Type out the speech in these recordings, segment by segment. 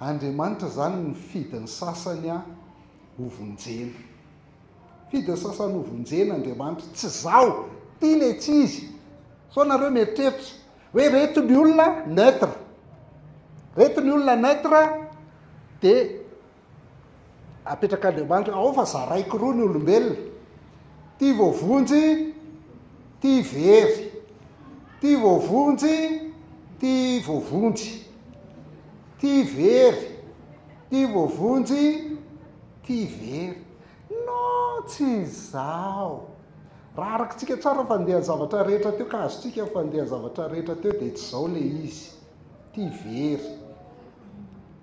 Andriamanitra izany nifidy ny sasany hovonjena. Nifidy ny sasany hovonjena Andriamanitra. Tsy izaho, ity ilay tsy izy. Sao nareo mieritreritra hoe reto ny olona neutre. Reto ny olona neutre dia Apetrak'Andriamanitra ao fa zaraiko roa ny olombelona, tia voavonjy, tia very, tia voavonjy, tia voavonjy, tia very, tia voavonjy, tia very. No tsy izaho. Raha arakitsika tsara fandehan'ny zavatra rehetra teo ka azontsika ny fandehan'ny zavatra rehetra teo dia tsy izao ilay izy. Tia very.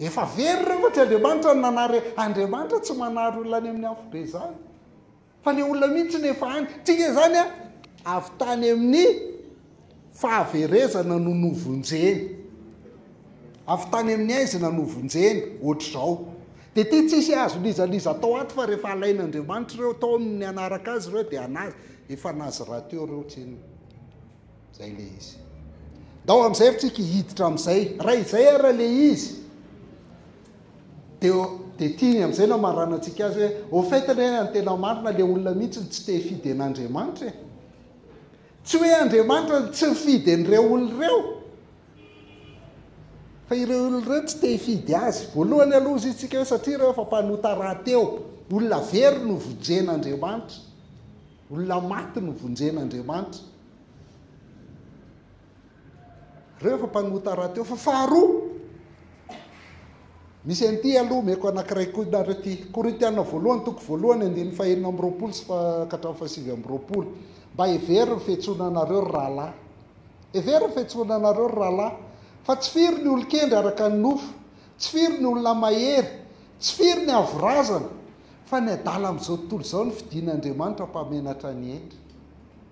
Efa very ireo fa tsy Andriamanitra no nanary Andriamanitra tsy manary olona any amin'ny afo be izany fa ilay olona mihitsy no efa any tsy inge izany a avy tany amin'ny fahaverezana no novonjeny avy tany amin'ny aizina novonjeny ohatr'izao dia ity tsisy azo lizaliza tao ato fa rehefa alain'Andriamanitra ireo tao amin'ny anaraka azy ireo dia anazy efa nazy rahateo ireo tsy inona Zay le izy. Ndao amin'izay ary tsika hiditra amin'izay. Raha izay ary le izy. Dia dia tiany amin'izay namaranantsika azy hoe au fait anie ny tena marina le olona mihitsy tsy te hifidy an'Andriamanitra e. Tsy hoe Andriamanitra tsy mifidy an'ireo olona ireo. Fa ireo olona ireo tsy te hifidy azy. Voalohany aloha izy tsika hoe satria ireo efa mpanota rahateo. Olona very no vonjen'Andriamanitra. Olona maty no vonjen'Andriamanitra. Reo efa mpanota raha teo fa faharoa misy an'ity aloha omeko anankiray koa nareo ity korintiana voalohany toko voalohany andininy fahenina amby roapolo sy katramin'ny fahasivy amby roapolo mba hevery ny fetsoana anareo ry rahalahy hevery ny fetsoana anareo ry rahalahy fa tsy firy ny olon-kendry araka ny nofo tsy firy ny olona mahery tsy firy ny avorazana fa ny adala amin'izao tontolo izao ny fidin'Andriamanitra mpamenatra ny hendry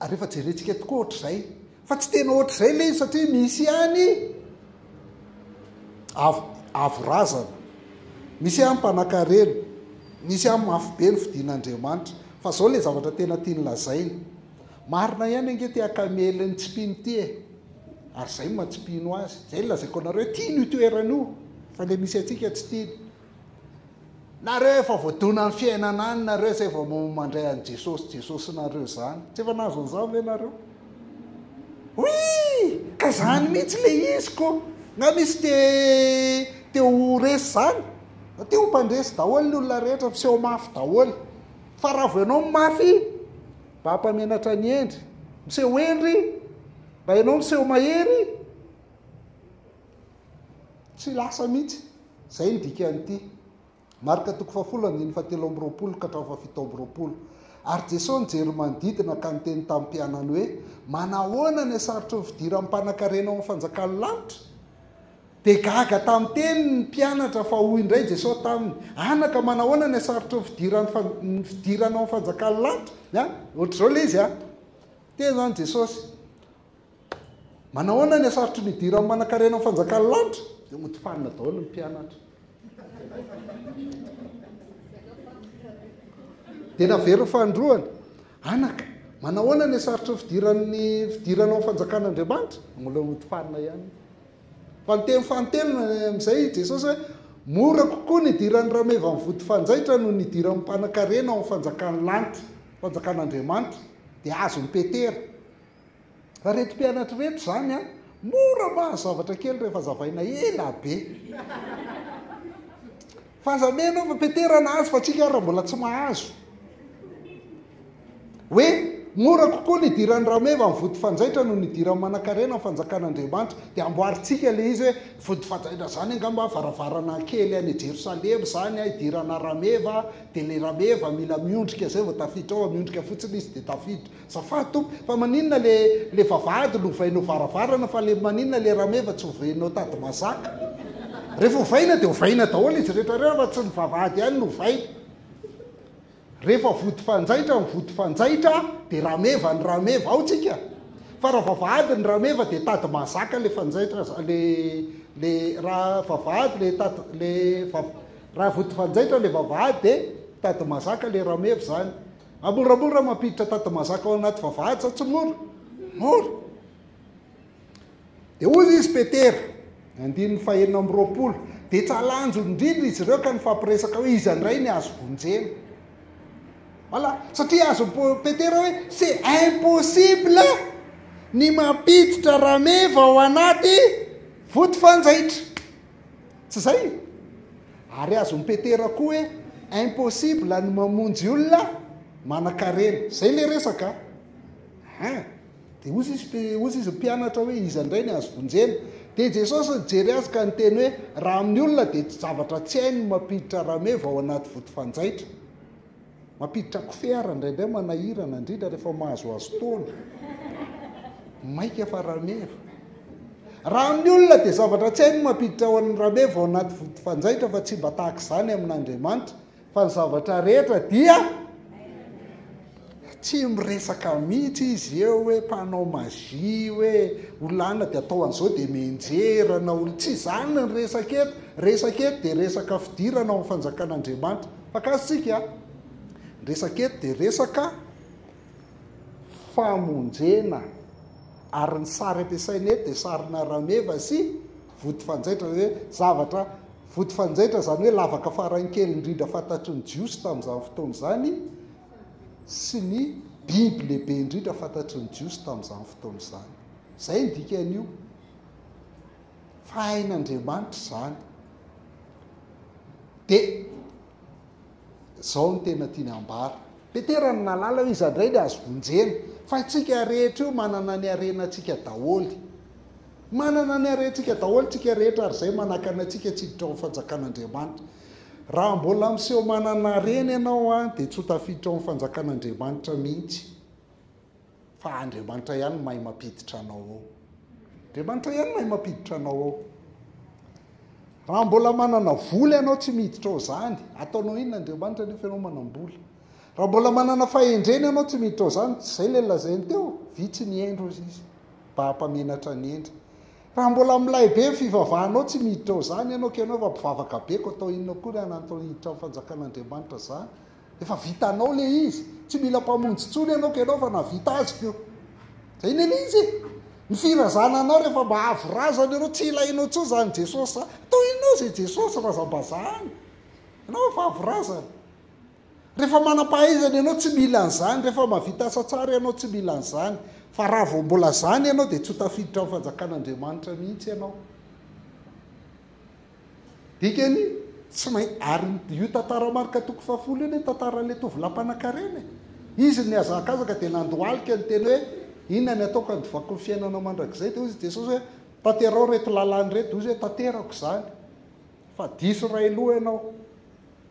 ary rehefa jerentsika tokoa ohatr'izay fa tsy tena ohatr'izay le izy satria misy ihany avo avo razana misy ihany mpanakarena misy ihany mafy be ny fidin'andriamanitra fa zao le zavatra tena tiany lazaina marina ihany ange te akamely ny tsy mpino ty e ary zay ma tsy mpino azy zay lazaiko anareo tiany io toerana io fa le misy antsika tsy tiany Nareo efa voadona ny fiainana any nareo zay vao mandray an'i Jesosy Jesosy nareo zany. Tsy efa nahazo an'izany ve nareo? Oui! Ka zany mihitsy le izy ko. Nga misy te te ho resy zany? Te ho mpandresy daholo ny olona rehetra, miseho mafy daholo. Fa raha vao ianao mafy, mba hampamenatra ny hendry. Miseho hendry, mba ianao miseho mahery. Tsy lasa mihitsy. Izay no dikan'ity Marka toko fahafolo andininy fahatelo amby roapolo ka hatramin'ny fahafito amby roapolo. Ary Jesoa nijery manodidina ka niteny tamin'ny mpianany hoe, Manahoana ny hasarotry ny fidiran'ny mpanankarena ao amin'ny fanjakan'ny lanitra? Dia gaga tamin'ny teniny ny mpianatra fa hoy indray Jesoa taminy, Anaka, manahoana ny hasarotry ny fidiran'ny ny fidirana ao amin'ny fanjakan'ny lanitra? Ohatr'izao ilay izy a. Teny izany Jesosy. Manahoana ny hasarotry ny hidiran'ny manankarena ny fanjakan'ny lanitra? Dia hotofanina daholo ny mpianatra. Dia naverin'ny fandroana. Anaka, manahoana ny hasarotry ny fidiran'ny fidirana ao fanjakan'Andriamanitra? Mbola hotofanina ihany. Fa niteny fanintelony amin'izay i Jesosy hoe mora kokoa ny hidiran'ny rameva amin'ny vody fanjaitra noho ny hidiran'ny mpanankarena ao amin'ny fanjakan'ny lanitra, fanjakan'Andriamanitra. Dia azon'i Petera. Ry reto mpianatry reto zany a, mora mahazo zavatra kely rehefa azavaina ela be. Fa aza meno fa Petera nahazo fa tsika ary mbola tsy mahazo. Hoe mora kokoa ny hidiran'ny rameva amin'ny vody fanjaitra no ny hidiran'ny manankarena amin'ny fanjakan'Andriamanitra. Dia amboarintsika ilay izy hoe vody fanjaitra izany angamba varavarana kely any Jerosalema izany hidirana rameva dia ilay rameva mila miondrika izay vao tafiditra ao, miondrika fotsiny izy dia tafiditra. Azafady tompoko fa maninona le le vavahady no ovainao varavarana fa le maninona le rameva tsy ovainao tady mazaka? Rehefa ovaina dia ovaina daholo izy rehetra reo fa tsy ny vavahady ihany no ovaina. Rehefa vody fanjaitra ny vody fanjaitra dia rameva ny rameva ao tsika fa raha vavahady ny rameva dia tady mazaka le fanjaitra le le raha vavahady le tady le raha vody fanjaitra le vavahady dia tady mazaka le rameva izany. Raha moramora mampiditra tady mazaka ao anaty vavahady sa tsy mora? Mora. Dia hoy izy Petera, andininy fahenina amby roapolo, dia tsy halanjony indrindra izy ireo ka nifampiresaka hoe iza indray ny azo vonjena. Voilà, satria azo Petera hoe c'est impossible ny mampiditra rameva ao anaty voto fanjaitra. Tsy izay? Ary azon'i Petera koa hoe impossible ny mamonjy olona manan-karena. Izay ilay resaka. Ha. Dia hozy izy, hozy izy mpianatra hoe iza indray ny azo vonjena. Dia Jesosy nijery azy ka niteny hoe raha amin'ny olona dia tsy zavatra tsy hainy mampiditra rameva ao anaty vody fanjaitra. Mampiditra kofehy ary indraindray manahirana, indrindra rehefa mahazoazo taona. Maika fa rameva. Raha amin'ny olona dia zavatra tsy hay ny mampiditra ho an'ny rameva ao anaty vody fanjaitra fa tsy mba tahaka izany amin'Andriamanitra fa ny zavatra rehetra dia tsy miresaka mihitsy izy eo hoe mpanao magie hoe olana dia atao an'izao dia menjerana ol tsy izany ny resaka eto resaka eto dia resaka fidirana ao amin'ny fanjakan'Andriamanitra Mpakafy tsika a! Ny resaka eto dia resaka famonjena ary ny sary ampiasaina eto dia sarina rameva sy vody fanjaitra hoe zavatra vody fanjaitra izany hoe lavaka faran'ny kely indrindra fantatry ny Jiosy tamin'izany fotoana izany sy ny biby lehibe indrindra fantatry ny Jiosy tamin'izany fotoana izany. Izay ny dikan'io. fa hain'Andriamanitra izany. Dia izao no tena tiany ambara. Petera no nalala hoe iza indray ny azo vonjena. Fa antsika rehetra io manana ny harenantsika daholo. Manana ny harentsika daholo tsika rehetra ary izay manakana antsika tsy hiditra ao amin'ny fanjakan'Andriamanitra. Raha mbola miseho manana harena ianao dia tsy ho tafiditra ao amin'ny fanjakan'Andriamanitra mihitsy. fa Andriamanitra ihany no mahay mampiditra anao ao. Andriamanitra ihany no mahay mampiditra anao ao. Raha mbola manana vola ianao tsy miditra ao izany, ataonao inona Andriamanitra nefa ianao manam-bola. Raha mbola manana fahendrena ianao tsy miditra ao izany, tsy izay ilay lazainy teo, vitsy ny hendry hozy izy, mba hampamenatra ny hendry. Raha mbola milay be ny fivavahanao tsy miditra ao izany ianao, ka ianao efa mpivavaka be, koa atao inona koa ry anantohiditra ny fanjakan'Andriamanitra izany? Efa vitanao le izy. Tsy mila mpamonjy tsony ianao ka ianao efa navita azy ko. Zay ne le izy e. Ny firazana anao rehefa mba avo razana ianao tsy ilainao tsony zany Jesosy zany. Tohinao ze Jesosy razambazaha any. Ianao efa avo razana. Rehefa manampahaizana ianao tsy mila an'zany, rehefa mavita asa tsara ianao tsy mila an'zany. Fa raha vao mbola zany ianao de tsy ho tafiditra amin'ny fanjakan'Andriamanitra mihitsy ianao. Dikany, tsy main Ary io tantara Marc toko fahafolo io anie tantaran'ilay tovolahy mpanankarena e! Izy no nihazakazaka dia nandohalika ny teny hoe, Inona ny ataoko handovako ny fiainanao mandrakizay? Dia hoy i Jesosy hoe, Tanterao ireto lalàna ireto. Dia hoy izy hoe, Tanterako izany. Fa diso iray loha ianao.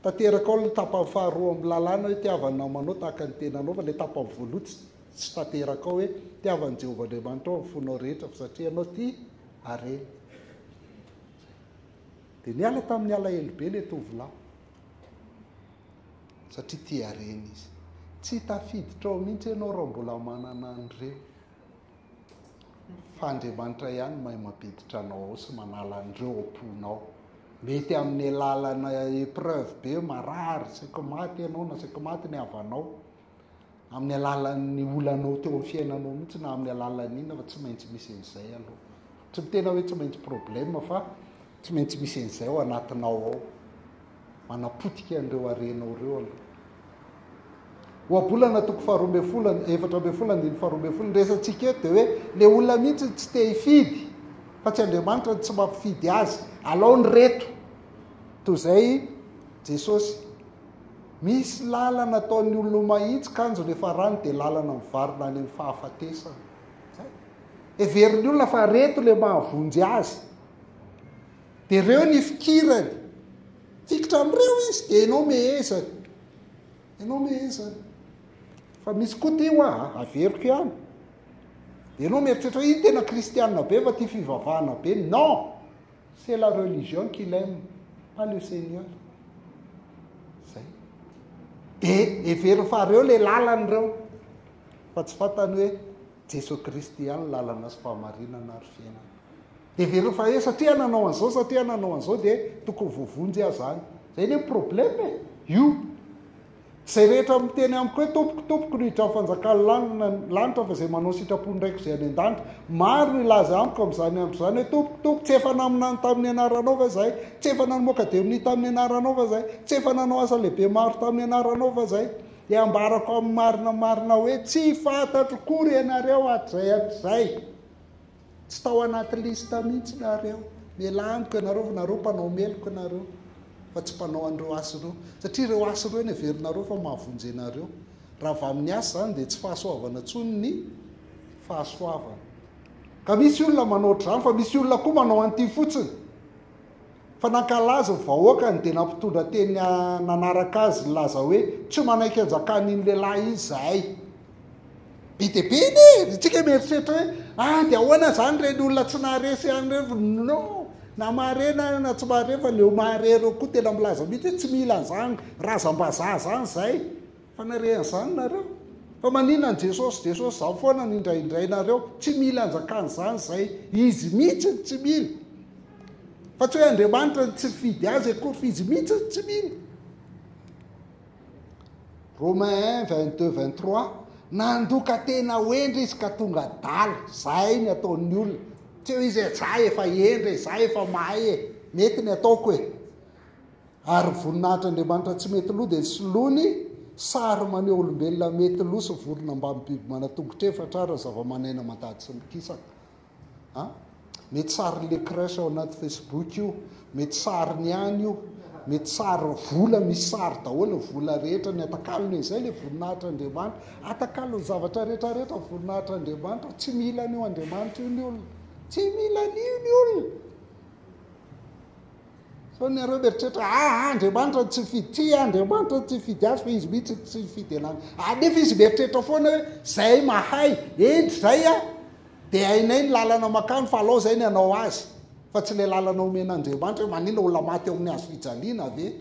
Tanterakao ny tapany faharoa amin'ny lalàna hoe, Tiava ny namanao tahaka ny tenanao. Fa ilay tapany voaloha tsy, tsy tanterakao hoe, Tiava an'i Jehovah Andriamanitrao amin'ny fonao rehetra, fa satria ianao tia, areny. Dia niala tamin'ny alahelo be ilay tovolahy, satria tia harena izy. Tsy tafiditra ao mihitsy ianao raha mbola manana an'ireo, fa Andriamanitra ihany no mahay mampiditra anao ao sy manala an'ireo ao am-ponao. Mety amin'ny alalana épreuve be, marary, saika maty ianao na saika maty ny havanao, amin'ny alalan'ny olanao teo amin'ny fiainanao mihitsy na amin'ny alalan'ny inona fa tsy maintsy misy an'izay aloha tsy mitena hoe tsy maintsy problema fa tsy maintsy misy an'izay ao anatinao ao manapotika an'ireo arenao ireo aloha ohabolana toko faharoa mbe folany efatra mbe folany diny faharoa mbe folany resantsika eto dia hoe le olona mihitsy tsy te hifidy fa tsy andriamanitra ny tsy mampifidy azy alao ny reto toy izay jesosy Misy lalana ataon'ny olona mahitsy kanjo ny farany dia lalana mivarina any amin'ny fahafatesana. Zay. Heverin'ny olona fa reto le mahavonjy azy. Dia reo ny fikirany. Fikitra amin'ireo izy dia ianao mehezany. Ianao mehezany. Fa misy koa ty hoa, averiko ihany. Dia ianao mieritreritra, iny tena kristianina be fa tia fivavahana be. Non! C'est la religion qu'il aime, pas le Seigneur. Zay. De hevero fa reo le lalany reo. Fa tsy fantany hoe Jesoa Kristy ihany lalana sy fahamarinana ary fiainana. De hevero fa hoe satria nanao an'izao, satria nanao an'izao dia tokony voavonjy aza any. Zay le problème e. Io. Izay rehetra miteny amiko hoe tompoko tompoko no hidran'ny fanjakan'ny lanitra fa izay manao sitrapon'ny raiko izay any an-danitra. Maro no hilaza amiko amin'izany andro izany hoe tompoko tompoko tsy efa naminany tamin'ny anaranao va izay? Tsy efa namoaka demony tamin'ny anaranao va izay? Tsy efa nanao asa lehibe maro tamin'ny anaranao va izay? Dia hambarako amin'ny marina marina hoe tsy fantatro kory ianareo hatrizay hatrizay. Tsy tao anaty liste mihitsy nareo. Mialà amiko ianareo, nareo mpanao meloka nareo fa tsy mpanao an'ireo asa ireo. Satria ireo asa ireo no heverinareo fa mahavonjy anareo. Raha avy amin'ny asa izany dia tsy fahasoavana intsony ny fahasoavana. Ka misy olona manao ohatr'izany fa misy olona koa manao an'ity fotsiny. fa nankalaza ny vahoakany dia nampitondra teny nanaraka azy nilaza hoe tsy manaiky hanjakan'iny lehilahy iny izahay. Be dia be anie, isika mieritreritra hoe ah dia ahoana izany ireny olona tsy naharesy ihany ireny no na mahare na na tsy mahare fa ny eo mahare ireo koa tena milaza mihitsy hoe tsy mila an'izany razam-bazaha izany izay. Fanarian zany nareo? Fa maninona ny Jesosy Jesosy zany foana no indraindray nareo? Tsy mila anjakany zany zay, izy mihitsy no tsy mila. Fa tsy hoe Andriamanitra no tsy mifidy azy akory fa izy mihitsy no tsy mila. Romain 1, 22, 23, nandoka tena ho hendry izy ka tonga adala, zay ny ataon'ny olona. Tsy hoe izy hoe za efa hendry e, za efa mahay e, mety ny ataoko e. Ary voninahitr'Andriamanitra tsy mety lo dia soloany sary maneho olombelona mety lo sy vorona mbamin'ny biby manan-tongotra efatra ary zava-maneno mandady sy mikisaka. A. Mety sarin'ny le crèche ao anaty Facebook io, mety sariny ihany io, mety sary vola misy sary daholo ny vola rehetra, ny atakalony izay le voninahitr'Andriamanitra, atakalony zavatra rehetra rehetra ny voninahitr'Andriamanitra, tsy mila an'io Andriamanitra io ny olona, tsy mila an'io ny olona. Sao nareo mieritreritra a Andriamanitra tsy hifidy tsia Andriamanitra tsy hifidy azy fa izy mihitsy tsy hifidy anany a nefa izy mieritreritra foana hoe zay mahay endry zay a dia hainay ny lalana makany fa alao zay ny anao azy fa tsy ilay lalana omen'Andriamanitra hoe maninona olona maty ao amin'ny hazo fijaliana ve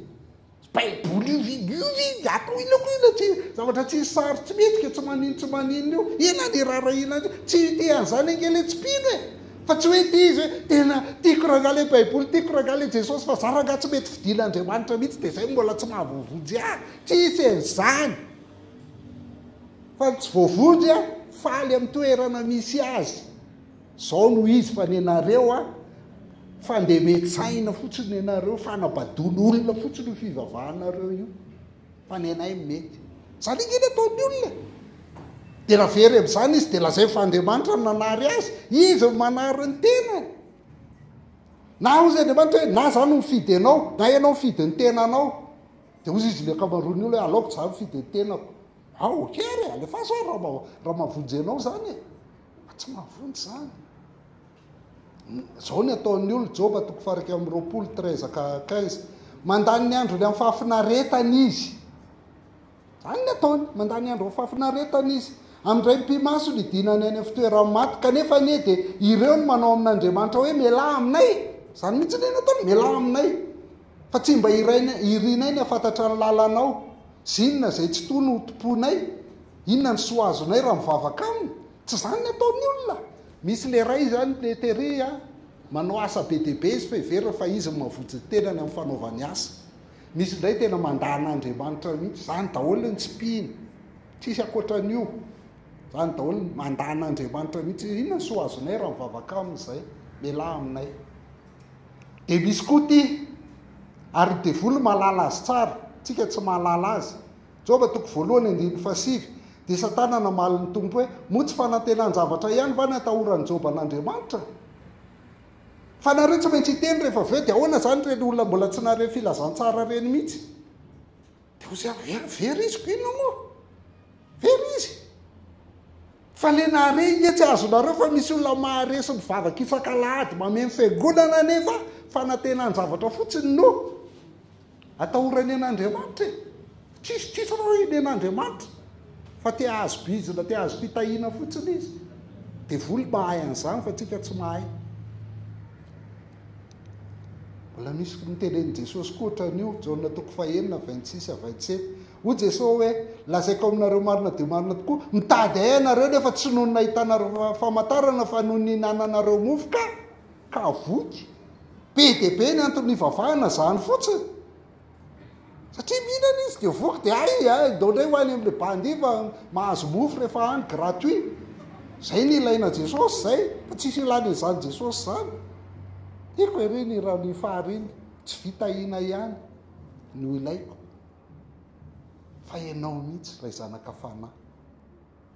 Baiboly io ve? Io ve? Ato ilako io ilay tsy, zavatra tsisy sary tsy mety ka tsy maninona tsy maninona io. Inona ny raharahiana an'io? Tsy te an'izany ange ilay tsy mpino e! Fa tsy hoe tia izy hoe, tena tiako rangaha ilay Baiboly, tiako rangaha ilay Jesosy, fa izaho rangaha tsy mety fidin'Andriamanitra mihitsy dia izay no mbola tsy mahavoavonjy ahy. Tsisy an'izany. Fa ny tsy voavonjy, faly amin'ny toerana misy azy. Zao no izy fa nenareo a fandemen tsaina fotsiny nenareo fanabadon olona fotsiny io fivavahanareo io fa nenay mety zany ange ny ataony olona e de ra very amzany izy de lazainy fa Andriamanitra no nanary azy izy no manary ny tenany na ozy Andriamanitra hoe na za no mifidy anao na ianao mifidy ny tenanao de ozy izy ny akamaroany olona hoe aleoko za mifidy ny tenako ao ok ary alefaso ary raha maha raha mahavonjy anao zany e Fa tsy mahavonjy izany. Izao ny ataon'ny olona, Joba toko fahairaika amby roapolo, treize ka quinze. Mandany ny androny amin'ny fahafinaretana izy. Izany ny ataony, mandany ny andro amin'ny fahafinaretana izy. Amindray mpimaso ny dinany any amin'ny fitoeran'ny maty, kanefa anie dia ireo no manao amin'Andriamanitra hoe mialà aminay. Izany mihitsy ny ataony, mialà aminay. Fa tsy mba irinay ny hafantatra ny lalanao sy inona izay tsy tony ho tompoinay, inona ny soa azonay raha mivavaka aminy? Tsy izany ny ataon'ny olona. Misy lehilahy izany le Terry a, manao asa be dia be izy fa heveriny fa izy no mavotsy ny tenany amin'ny fanaovany asa. Misy indray tena mandà an'Andriamanitra mihitsy, izany daholo ny tsipihiny, tsisy ankoatran'io, izany daholo ny mandà an'Andriamanitra mihitsy, inona ny soa azonay raha mivavaka aminy izay? Mialà aminay. Dia misy koa ity, ary ny devoly mahalala azy tsara, tsika tsy mahalala azy. Joba toko voalohany andininy fahasivy, dia Satana namaly ny Tompo hoe, moa tsy fanantenan-javatra ihany va ny atahoran'i Joba an'Andriamanitra? Fa nareo tsy maintsy hiteny rehefa avy eo, dia ahoana izany ireny olona mbola tsy nahare filazantsara ireny mihitsy? Dia hoy zany, he an, very izy, ko inona moa? Very izy. Fa le nahare i Nge tsy azonareo fa misy olona mahare sy mivavaka ifankalahady mameno fiangonana nefa fanantenan-javatra fotsiny no atahorany an'Andriamanitra e. Tsisy tsisy reo inen'Andriamanitra fa te hahazo bizina, te hahazo fitahiana fotsiny izy. Devoly mahay an'izany fa tsika tsy mahay. Mbola misy nitenenin'i Jesosy koa ohatran'io, Jaona toko fahenina, vingt six à vingt sept. Hoy Jesosy hoe, Lazaiko aminareo marina dia marina tokoa, mitady Ahy ianareo nefa tsy noho ny nahitanareo famantarana fa noho ny nihinananareo mofo ka, ka voky. Be dia be ny antony nivavahana, izany fotsiny. Satria mihinana izy dia voky dia hay a, ndao indray ho any amin'ilay bandy fa mahazo mofo rehefa any gratuit. Izay no ilaina Jesosy izay, fa tsisy ilana izany Jesosy izany. Tiako ery ny raha ny fahariana, tsy vita hina ihany no ilaiko fa ianao mihitsy ilay zanaka fanahy.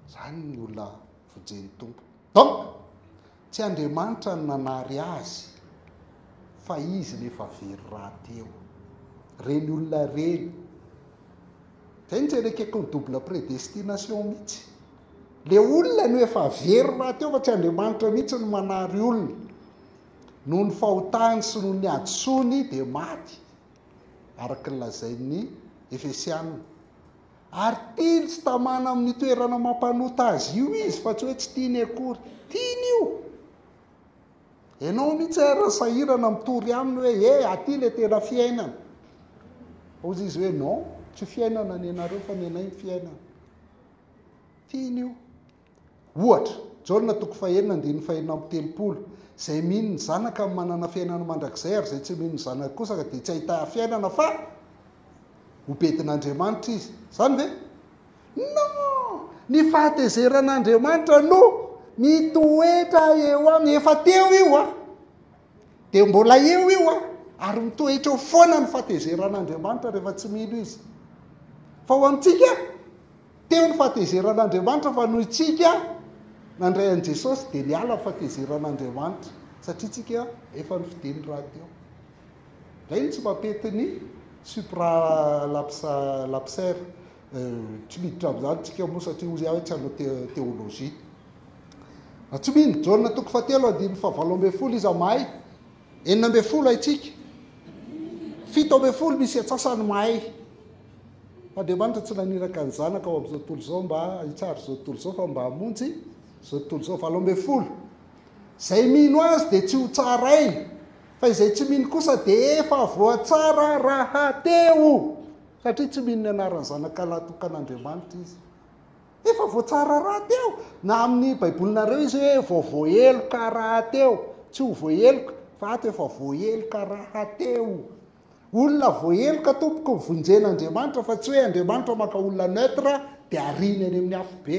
Izany ny olona. Vojen'ny Tompo. Donc, tsy Andriamanitra no nanary azy fa izy ilay efa very rahateo. Ireny olona ireny. Izay no tsy erekeko ny double prédestination mihitsy. Ilay olona no efa very rahateo fa tsy Andriamanitra mihitsy no manary olona. Noho ny fahotany sy noho ny hadisoany dia maty araka ny lazain'ny Efesianina. Ary tiany tsy tamana amin'ny toerana mampanota azy io izy fa tsy hoe tsy tiany akory. Tiany io. Ianao mihitsy ary raha sahirana mitory aminy hoe e eh, aty ilay tena fiainana. Hozy izy hoe non, tsy fiainana ny anareo fa ny anay ny fiainana. Tiany io. Ohatra, Jaona toko fahenina andininy fahenina amby telopolo, Izay mino ny Zanaka no manana fiainana mandrakizay, ary izay tsy mino ny Zanaka kosa dia tsy hahita fiainana fa ho bedin'Andriamanitra izy. Izany ve? Non! Ny fahatezeran'Andriamanitra no mitoetra eo aminy. Efa teo io an! dia mbola eo io a ary mitoetra eo foana ny fatezeran'andriamanitra rehefa tsy mino izy fa ho antsika teo ny fatezeran'andriamanitra fa noho itsika nandray an'i jesosy dia niala ny fatezeran'andriamanitra satria tsika efa ny fidiny raha teo zay no tsy mampety ny supra lapsa lapser euh, tsy miditra amin'izany tsika moa satria ozy ahy tsy hanao teolojia Ratsomino, Jaona toko fahatelo andininy fahavalo ambin'ny folo Iza mahay? Enina ambin'ny folo Haintsika. Fito ambin'ny folo Misy atsasany mahay. Andriamanitra tsy naniraka ny zanaka ao amin'izao tontolo izao mba hitsara izao tontolo izao fa mba hamonjy izao tontolo izao. Valo ambin'ny folo Izay mino azy dia tsy ho tsaraina fa izay tsy mino kosa dia efa voatsara rahateo satria tsy mino ny anaran'ny zanaka lahy tokan'Andriamanitra izy. Efa voatsara rahateo na amin'ny baibolinareo izy hoe vao voaheloka rahateo, tsy ho voaheloka fa ato efa voaheloka rahateo. Olona voaheloka tompoko vonjen'Andriamanitra fa tsy hoe Andriamanitra maka olona neutre dia ariany any amin'ny afobe.